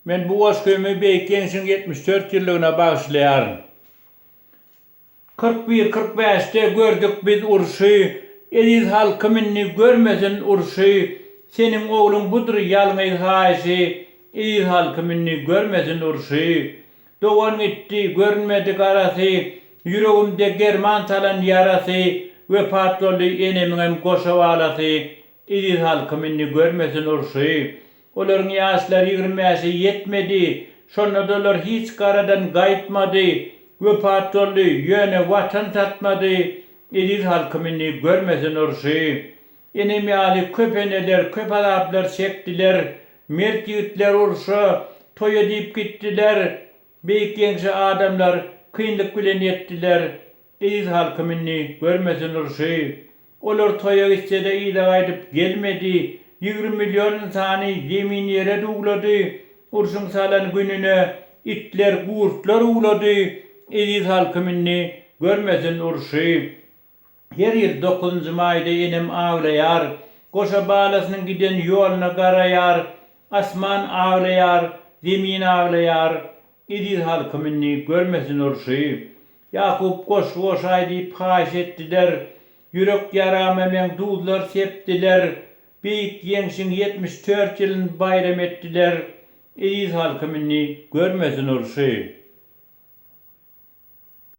Men bu goşgymy Beýik Ýeňşiň ýetmiş dört ýyllygyna bagyşlaýaryn. Kyrk bir, kyrk bäşde gördük biz urşy, Eziz halkym indi görmesin urşy, Seniň ogluň budur ýalňyz haýyşy, Eziz halkym indi görmesin urşy. Dogan gitdi, görünmedi garasy, Ýüregimde german salan ýarasy, Wepat boldy enemiňem goşa balasy, Eziz halkym indi görmesin urşy. Olaryň ýaşlary ýigrimi bäşe ýetmedi. Şonda-da olar hiç garadan gaýtmady. Wepat boldy, ýöne Watan satmady. Eziz halkym indi görmesin urşy. Enem ýaly köp eneler köp azaplar çekdiler. Mert ýigitler urşa, toýa diýip gitdiler. Beýik Ýeňşe adamlar kynlyk bilen ýetdiler. Eziz halkym indi görmesin urşy. Olar toýa gitse-de yza gaýdyp gelmedi. Ýigrimi million ynsany zemini ýere duwlady. Urşuň salan gününe itler, gurtlar uwlady. Eziz halkym indi görmesin urşy. Her ýyl dokuzynjy maýda enem aglaýar. Goşa balasynyň giden ýoluna garaýar. Asman aglaýar, zemin aglaýar. Eziz halkym indi görmesin urşy. Ýakup goşgy goşaý diýip haýyş etdiler. Ýürek ýarama meň duzlar sepdiler. Beýik Ýeňşiň ýetmiş dört ýylyn baýram etdiler. Eziz halkym indi görmesin urşy.